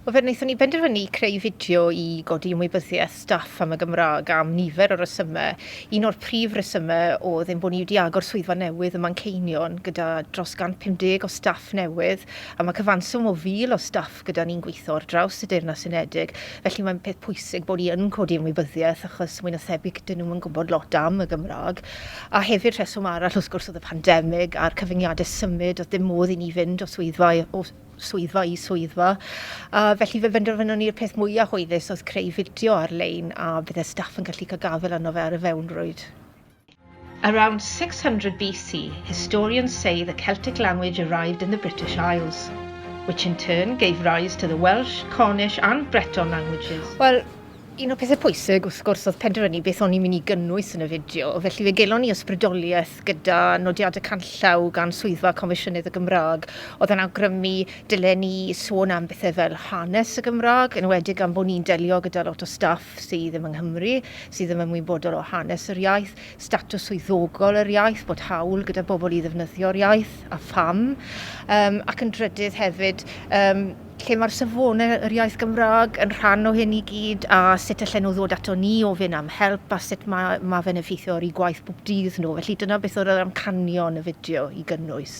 Wel, fe wnaethon ni benderfynu creu fideo i godi ymwybyddiaeth staff am y Gymraeg am nifer o resymau. Un o'r prif resymau oedd ein bod ni wedi agor swyddfa newydd ym Manceinion gyda dros 150 o staff newydd a mae cyfanswm o 1,000 o staff gyda ni'n gweithio ar draws y Deyrnas Unedig, felly mae'n peth pwysig bod ni yn codi ymwybyddiaeth achos mwy na thebyg 'dyn nhw'm yn gwybod lot am y Gymraeg. A hefyd rheswm arall wrth gwrs oedd y pandemig a'r cyfyngiadau symud, oedd dim modd i ni fynd o swyddfa o swyddfa i swyddfa. A felly fe benderfynon ni'r peth mwyaf hwylus oedd creu fideo ar-lein a bydde staff yn gallu cael gafel arno fe ar y fewnrwyd. Around 600 BC, historians say the Celtic language arrived in the British Isles, which in turn gave rise to the Welsh, Cornish and Breton languages. Wel, un o pethau pwysig wrth gwrs oedd penderfynu beth o'n i'n mynd i gynnwys yn y fideo, felly fe gelon ni ysbrydoliaeth gyda nodiadau canllaw gan Swyddfa Comisiynydd y Gymraeg oedd yn awgrymu dylen ni sôn am bethau fel hanes y Gymraeg, yn enwedig am bod ni'n delio gyda lot o staff sydd ddim yng Nghymru, sydd ddim ymwybodol o hanes yr iaith, statws swyddogol yr iaith, bod hawl gyda bobl i ddefnyddio'r iaith, a pham, um, ac yn drydydd hefyd, um, lle mae'r safonau yr iaith Gymraeg yn rhan o hyn i gyd a sut allan nhw ddod ato ni ofyn am help a sut mae, mae fe'n effeithio ar eu gwaith bob dydd nhw. Felly dyna beth oedd yr amcanion y fideo i gynnwys.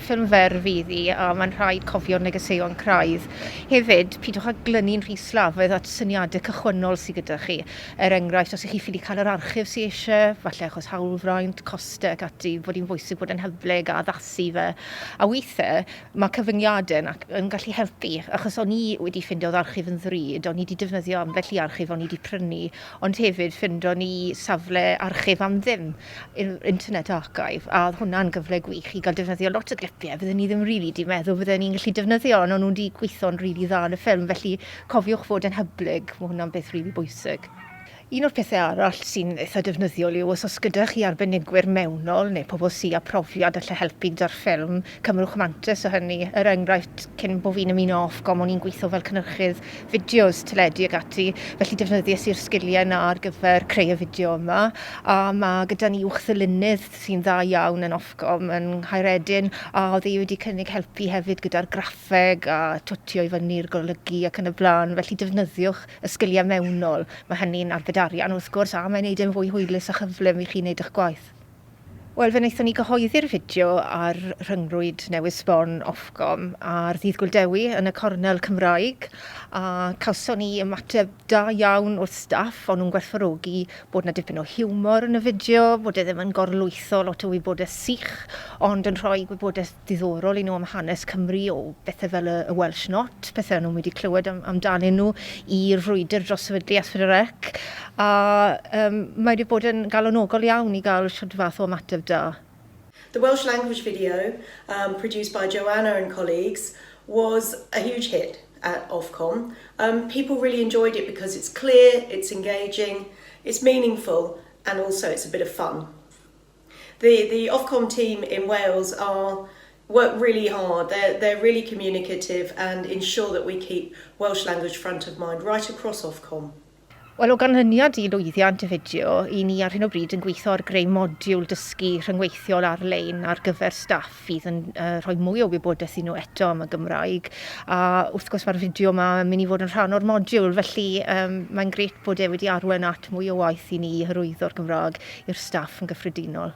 Ffilm fer fydd hi, a mae'n rhaid cofio'r negeseuon craidd. Hefyd, pidwch â glynu'n rhy slafaidd at syniadau cychwynnol sydd gyda chi. Er enghraifft, os y'ch chi ffili cael yr archif sydd eisiau, falle achos hawlfraint, costau ac ati, fod hi'n bwysig bod yn hyblyg a addasu fe. A weithiau, mae cyfyngiadau yn yn gallu helpu, achos o'n i wedi ffeindio'r archif yn ddrud, o'n i wedi defnyddio ambell i archif o'n i wedi prynu, ond hefyd ffeindon ni safle archif am ddim. yr Internet Archive, a oedd hwnna'n gyfle gwych i gael defnyddio lot o glipiau fydden ni ddim rili really 'di meddwl fydden ni'n gallu defnyddio, ond o'n nhw 'di gweithio'n rili really dda yn y ffilm, felly cofiwch fod yn hyblyg, mae hwnna'n beth rili really bwysig. Un o'r pethau arall sy'n eitha defnyddiol yw os oes gyda chi arbenigwyr mewnol neu pobl sy â profiad allai helpu gyda'r ffilm, Cymrwch mantais o hynny, er enghraifft, cyn bo fi'n ymuno Ofcom o'n i'n gweithio fel cynhyrchydd fideos, teledu ac ati, felly defnyddies i'r sgiliau 'na ar gyfer creu y fideo yma, a ma' gyda ni uwchddylunydd sy'n dda iawn yn Ofcom yn Nghaeredin, a o'dd e wedi cynnig helpu hefyd gyda'r graffeg a twtio i fyny'r golygu ac yn y bla'n, felly defnyddiwch y sgiliau mewnol, ma' hynny'n arbed arian wrth gwrs, a mae'n neud e'n fwy hwylus a chyflym i chi neud 'ych gwaith. Wel, fe wnaethon ni gyhoeddi'r fideo ar rhyngrwyd newydd sbon Ofcom ar ddydd Gŵyl Dewi yn y cornel Cymraeg a cawson ni ymateb da iawn o'r staff, o'n nhw'n gwerthfawrogi bod 'na dipyn o hiwmor yn y fideo, bod e ddim yn gorlwytho lot o wybodaeth sych ond yn rhoi gwybodaeth ddiddorol i nhw am hanes Cymru o bethe fel y Welsh Not, pethe o'n nhw'm wedi clywed am amdanyn nhw, i'r frwydr dros sefydlu Asfydrec, a yym mae wedi bod yn galonogol iawn i gael shwd fath o ymateb da. The Welsh language video, um, produced by Joanna and colleagues, was a huge hit at Ofcom. Um, people really enjoyed it because it's clear, it's engaging, it's meaningful, and also it's a bit of fun. The the Ofcom team in Wales are work really hard, they're they're really communicative and ensure that we keep Welsh language front of mind right across Ofcom. Wel, o ganlyniad i lwyddiant y fideo, 'y ni ar hyn o bryd yn gweithio ar greu modiwl dysgu rhyngweithiol ar-lein ar gyfer staff fydd yn uh, rhoi mwy o wybodaeth i nhw eto am y Gymraeg. A wrth gwrs mae'r fideo yma yn mynd i fod yn rhan o'r modiwl, felly um, mae'n gret bod e wedi arwen at mwy o waith i ni i hyrwyddo'r Gymraeg i'r staff yn gyffredinol.